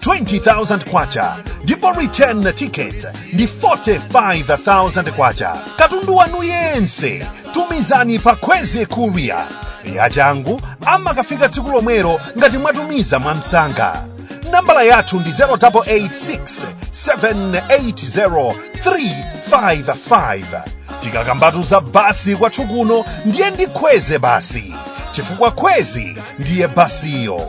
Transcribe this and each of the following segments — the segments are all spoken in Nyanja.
20,000 kwacha ndipo return ticket ndi 45,000 kwacha katundu wanu yense tumizani pa Kwezy courier yachangu amakafika tsiku lomwelo ngati mwatumiza mwamsanga nambala yathu ndi 0886 780 355 tikakamba za basi kwathu kuno ndiye ndi Kwezy basi chifukwa Kwezy ndiye basiyo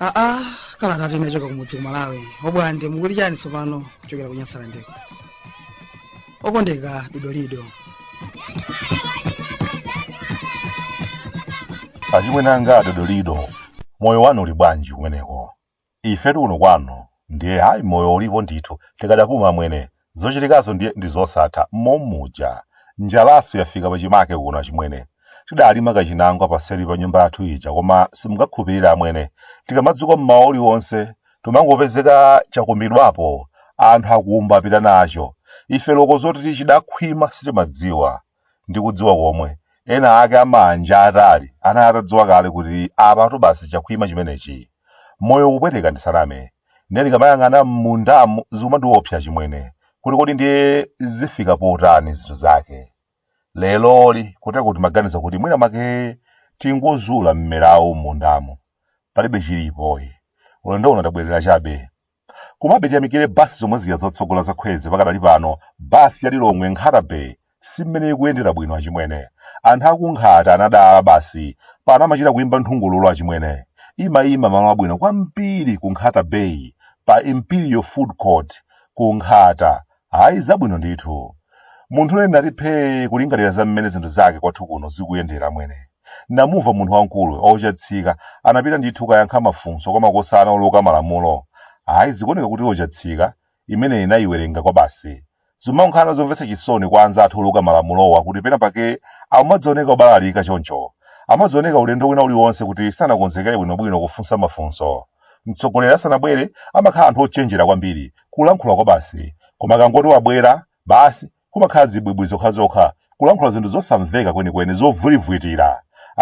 aa kalatatu inachoka kumudzi ku malawi obwande mukuli chani tsopano kuchokera ku Nyasalandeko okondeka dodolido achimwene anga adodolido moyo wanu uli bwanji kumeneko Ifetu kuno kwanu ndiye ayi moyo ulipo ndithu tikadapuma, amwene. Zochitikazo ndiye ndi zosatha momuja. Njalanso yafika pachimake kuno achimwene. Tidalima kachinangwa paseli pa nyumba yathu ija koma simungakhulupirire amwene. Tikamadzuka mmawa uliwonse tumangopezeka chakumbidwapo anthu akumba apita nacho. Ife loko zoti chidakhwima sitimadziwa. ndi kudziwa komwe ena ake amanja atali anayi atadziwa kale kuti apatu basi chakhwima chimenechi moyo ukupweteka ndisaname ndiye ndikamayang'ana m'mundamu zikumandiopsa achimwene kuti kodi ndiye zifika potani zinthu zake leroli kotero timaganiza kuti mwina mwake tingozula mmerawu m'mundamu palibe chilipo ayi ulendo uno ndabwerera chabe Komabe tiyamikire bus zomwe zija zotsogola za Kwezy pakadali pano bus ya Lilongwe Nkhata Bay si mmene ikuyendera bwino achimwene. Anthu aku Nkhata anadala basi, pano amachita kuimba nthungululu achimwene. Imaima malo abwino kwambiri ku Nkhata Bay pa Imperial Food Court ku Nkhata Ayi zabwino ndithu. Munthu ine ndati phee kulingalira za mmene zinthu zake kwathu kuno zikuyendera amwene. Ndamumva munthu wamkulu oChatsika anapita ndithu kukayankha mafunso kwa makosana oluka malamulo. Ayi zikuoneka kuti law Chatsika imene anayiwerenga kwabasi. Zimakhala zomvetsa chisoni kwa anzathu oluka malamulowa kuti pena pake amadzioneka obalalika choncho. Amadzioneka ulendo wina uliwonse kuti sanakonzekere bwinobwino kufunsa mafunso. Mtsogoleri asanabwere amakhala anthu ochenjera kwambiri, kulankhula kwabasi, koma akangoti wabwera, basi, kumakhala zibwibwi zokhazokha, kulankhula zinthu zosamveka kwenikweni, zovwirivwitira.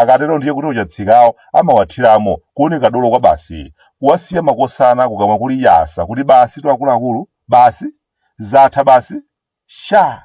Akatero ndiye kuti oChatsikawo amawathiramo, kuoneka dolo kwabasi, kuwasiya makosana kukamwa kuli yasa kuti basitu akuluakulu, basi? Zatha basi? Sha!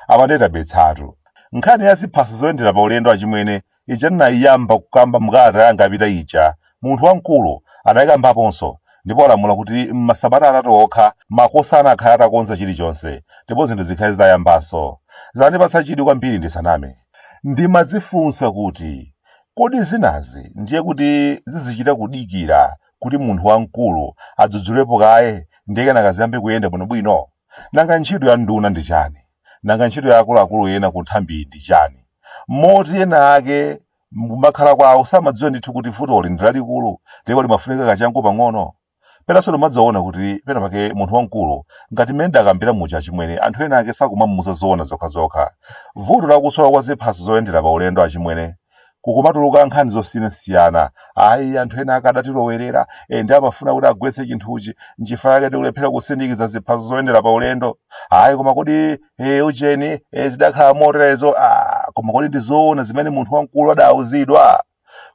Apa ndiye tabetsatu. Nkhani ya ziphaso zoyendera pa ulendo achimwene ija ndinaiyamba kukamba mukalata yanga yapita ija, munthu wamkulu anaikambaponso ndipo walamula kuti m'masabata atatu okha makosana akhale atakonza chilichonse ndipo zinthu zikhale zitayambanso. Zandipatsa chidwi kwambiri ndisaname. Ndimadzifunsa kuti, Kodi zinazi ndiye kuti zizichita kudikira kuti munthu wamkulu adzudzulepo kaye ndiye kenaka ziyambe kuyenda bwinobwino? Nanga ntchito ya nduna ndi chani? Nanga ntchito ya akuluakulu ena ku nthambiyi ndi chani? Moti ena ake kumakhala kwawo samadziwa ndithu kuti vutoli ndi lalikulu ndipo limafunika kachangu pang'ono? Penanso ndimadzaona kuti pena pake munthu wamkulu ngati mmene ndakambira muja achimwene anthu ena ake sakumamuuza zoona zokhazokha. Vuto la kusowa kwa ziphaso zoyendera pa ulendo achimwene kukumatuluka nkhani zosiyanasiyana ayi anthu ena akadatilowerera e, ndiye amafuna kuti agwetse chinthuchi nchifukwa chake tikulephera kusindikiza ziphaso zoyendera pa ulendo ayi koma kodi e, ujeni e, zidakhala moterezo ah, koma kodi ndi zoona zimene munthu wamkulu adawuzidwa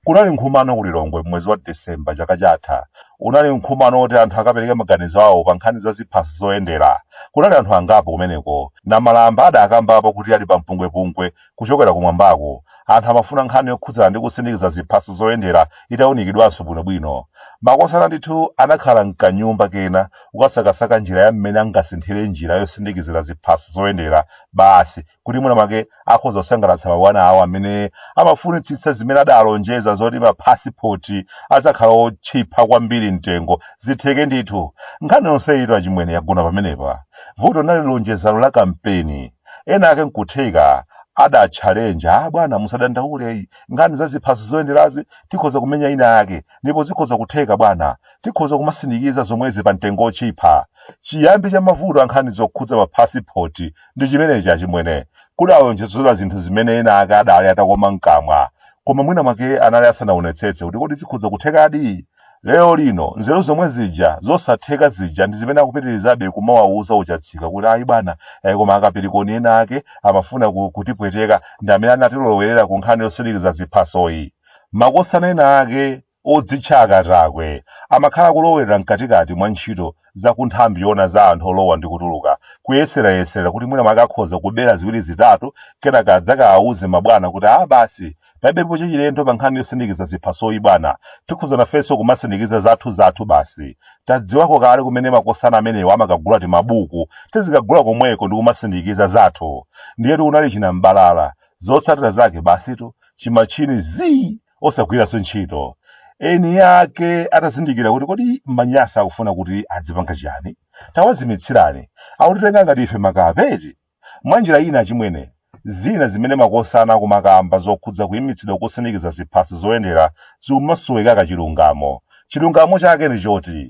kunali nkhumano ku lilongwe mwezi wa disemba chaka chatha unali nkhumano woti anthu akapereke maganizo awo pa nkhani za ziphaso zoyendera kunali anthu angapo kumeneko namalamba adakambapo kuti ali pa mpungwepungwe kuchokera kumwambako. Anthu amafuna nkhani yokhudzana ndi kusindikiza ziphaso zoyendera itaunikidwanso bwinobwino. Makosana ndithu anakhala m'kanyumba kena kukasakasaka njira ya mmene angasinthire njira yosindikizira ziphaso zoyendera basi kuti mwina mwake akhoza kusangalatsa mabwana awo amene amafunitsitsa zimene adalonjeza zoti maphasipoti adzakhala otchipa kwambiri mtengo zitheke ndithu. Nkhani yonse itu achimwene yagona pamenepa. Vuto linali lonjezano la kampeni. Ena ake nkutheka adatchalenja, ah bwana musadandaule, nkhani za ziphaso zoyenderazi tikhoza kumenya ina yake ndipo zikhoza kutheka bwana. Tikhoza kumasindikiza zomwezi pamtengo wotchipha. Chiyambi cha mavuto a nkhani zokhudza maphasipoti ndi chimenechi achimwene. Kudalonjezedwa zinthu zimene ena ake adali atakoma mkamwa. Koma mwina mwake anali asanaonetsetse kuti kodi zikhoza kuthekadi? lero lino nzeru zomwe zija zosatheka zija ndi zimene akupitirizabe kumawawuza uchatsika kuti ayi bwana eh, koma akapirikoni ena ake amafuna ku- kutipweteka ndi amene anatilowelera ku nkhani yosindikiza ziphasoyi makosana ena ake odzitcha akatakwe amakhala kulowelera mkatikati mwa ntchito za kunthambi yona za anthu olowa ndi kutuluka kuyeserayesera kuti mwina mwake akhoza kubera ziwiri zitatu kenaka adzakawawuze mabwana kuti a basi Palibepo chachilendo pa nkhani yosindikiza ziphasoyi bwana. Tikhoza nafenso kumasindikiza zathuzathu basi. Tadziwako kale kumene makosana amenewa amakagula timabuku, tizikagula komweko ndi kumasindikiza zathu. Ndiyetu kunali chinam'balala. Zotsatira zake basitu, chimatchini zii! osagwiranso ntchito. Eni ake atazindikira kuti kodi manyasa akufuna kuti adzipanga chiyani, tawazimitsirani. Akutitenga ngati ife makape eti? Mwanjira ina achimwene, zina zimene makosana akumakamba zokhudza kuimitsidwa kusindikiza ziphaso zoyendera zikumasowekaka chilungamo. Chilungamo chake ndi choti,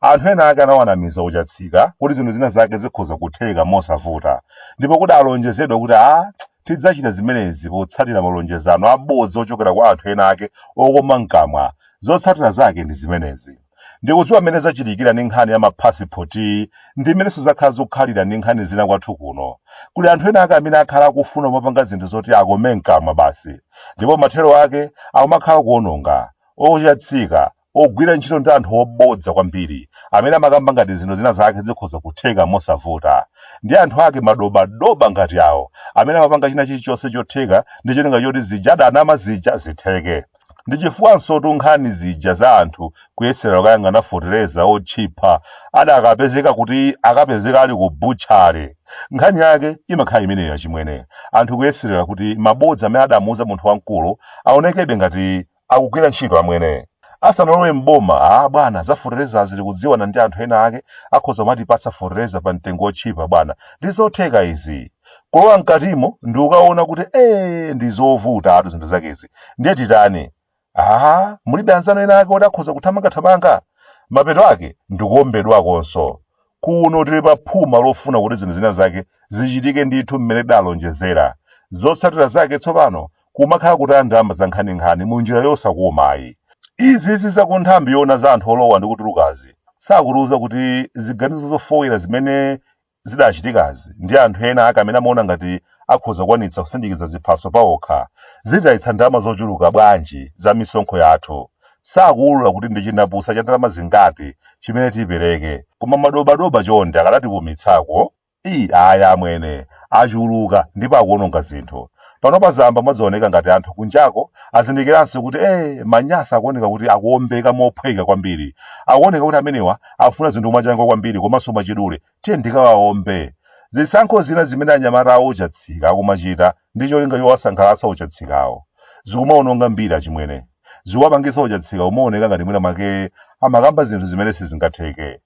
anthu ena ake anawanamiza oChatsika kuti zinthu zina zake zikhoza kutheka mosavuta, ndipo kudalonjezedwa kuti a tidzachita zimenezi potsatira malonjezano abodza ochokera kwa anthu ena ake okoma mkamwa. Zotsatira zake ndi zimenezi. ndikudziwa mmene zachitikira ndi nkhani ya maphasipoti ndi mmenenso zakhala zikukhalira ndi nkhani zina kwathu kuno kuli anthu ena ake amene akhala akufuna kumapanga zinthu zoti akome mkamwa basi ndipo mathero ake akumakhala kuononga ochatsika akugwira ntchito ndi anthu obodza kwambiri amene amakamba ngati zinthu zina zake zikhoza kutheka mosavuta ndi anthu ake madobadoba ngati awo amene amapanga china chilichonse chotheka ndi cholinga choti zija adanama zija zitheke ndi chifukwansotu nkhani zija za anthu kuyeserera kukayang'ana fotereza otchipa adakapezeka kuti akapezeka ali ku butchale nkhani yake imakhala imeneyo achimwene anthu kuyeserera kuti mabodza amene adamuuza munthu wamkulu aonekebe ngati akugwira ntchito amwene asanalowe mboma a bwana za fotereza tili kudziwana ndi anthu ena ake akhoza kumatipatsa fotereza pa mtengo otchipa bwana ndi zotheka izi kulowa mkatimo ndikukaona kuti ee ndi zovutatu zinthu zakezi ndiye titani aha mulibe anzanu ena ake oti akhoza kuthamangathamanga mapeto ake ndikuombedwakonso kuno tili pa phuma lofuna kuti zinthu zina zake zichitike ndithu mmene tidalonjezera zotsatira zake tsopano kumakhala kutaya ndalama zankhaninkhani mu njira yosakumayi izi zizi za ku nthambi yoona za anthu olowa ndi kutulukazi sakutiuza kuti ziganizo zofoira zimene zidachitikazi ndi anthu ena ake amene amaona ngati akhoza kukwanitsa kusindikiza ziphaso paokha zititayitsa ndalama zochuluka bwanji za misonkho yathu sakuwulula kuti ndi chindapusa cha ndalama zingati chimene tipereke koma madobadoba chonde akadatipumitsako ii aya amwene achuluka ndipo akuononga zinthu Panopa zayamba kumadzaoneka ngati anthu kunjako azindikiranso kuti ee maNyasa akuoneka kuti akuombeka mophweka kwambiri. Akuoneka kuti amenewa akufuna zinthu mwachangu kwambiri komanso mwachidule. Tiyeni tikawaombe. Zisankho zina zimene anyamata a ochatsika akumachita ndi cholinga chowasangalatsa ochatsikawo, zikumaononga mbiri achimwene. Zikuwapangitsa ochatsika kumaoneka ngati mwina mwake amakamba zinthu zimene sizingatheke.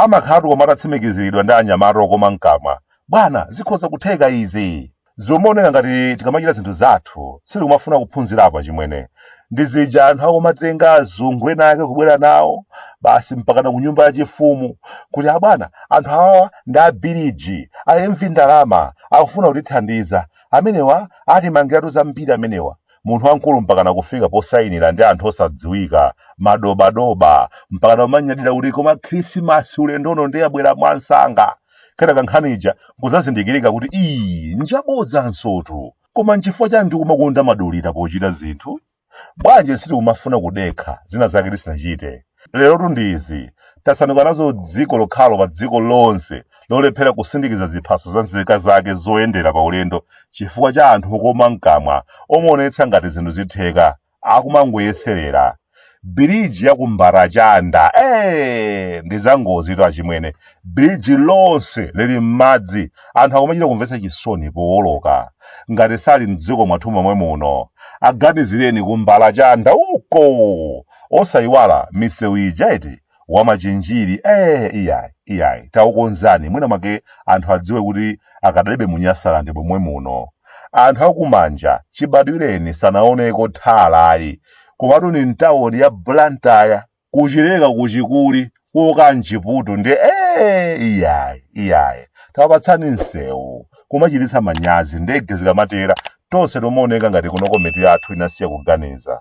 Amakhalatu koma atatsimikiziridwa ndi anyamata okoma mkamwa, Bwana, zikhoza kutheka izi! Zomaoneka ngati tikamachita zinthu zathu, sitikumafuna kuphunzirapo achimwene. Ndi zija anthu akumatenga azungu ena ake kubwera nawo, basi mpakana ku nyumba yachifumu, kuti, Abwana, anthu awawa ndi a biriji, a imvi ndalama, akufuna kutithandiza. Amenewa atimangiratu zambiri amenewa. munthu wamkulu mpakana kufika posayinira ndi anthu osadziwika madobadoba mpakana umanyadira kuti koma khrisimasi ulendo uno ndiye yabwera mwansanga kenaka nkhani ija nkuzazindikirika kuti iyi njabodzansotu koma nchifukwa chani tikumakonda madulira pochita zinthu bwanji sitikumafuna kudekha zina zake tisinachite lerotu ndi izi tasanduka nazo dziko lokhalo pa dziko lonse lolephera kusindikiza ziphaso za nzika zake zoyendera pa ulendo chifukwa cha anthu okoma mkamwa omaonetsa ngati zinthu zitheka akumangoyeserera biriji ya ku Mbalachanda ee ndi zangozitu achimwene biriji lonse lili m'madzi anthu akumachita kumvetsa chisoni powoloka ngati sali mdziko mwathu momwe muno aganizireni ku Mbalachanda uko Osaiwala misewu ija eti? Wa Machinjiri ee iyayi iyayi taukonzani mwina mwake anthu adziwe kuti akadalibe mu Nyasaland momwe muno. Anthu a ku Manja chibadwireni sanaoneko tar ayi. Komatu ni mtauni ya Blantyre. Ku Chileka ku Chikuli kuoka mchiputu ndiye ee iyayi iyayi tawapatsani msewu. Kumachititsa manyazi ndege zikamatera tonse tomaoneka ngati kunoko mitu yathu inasiya kuganiza.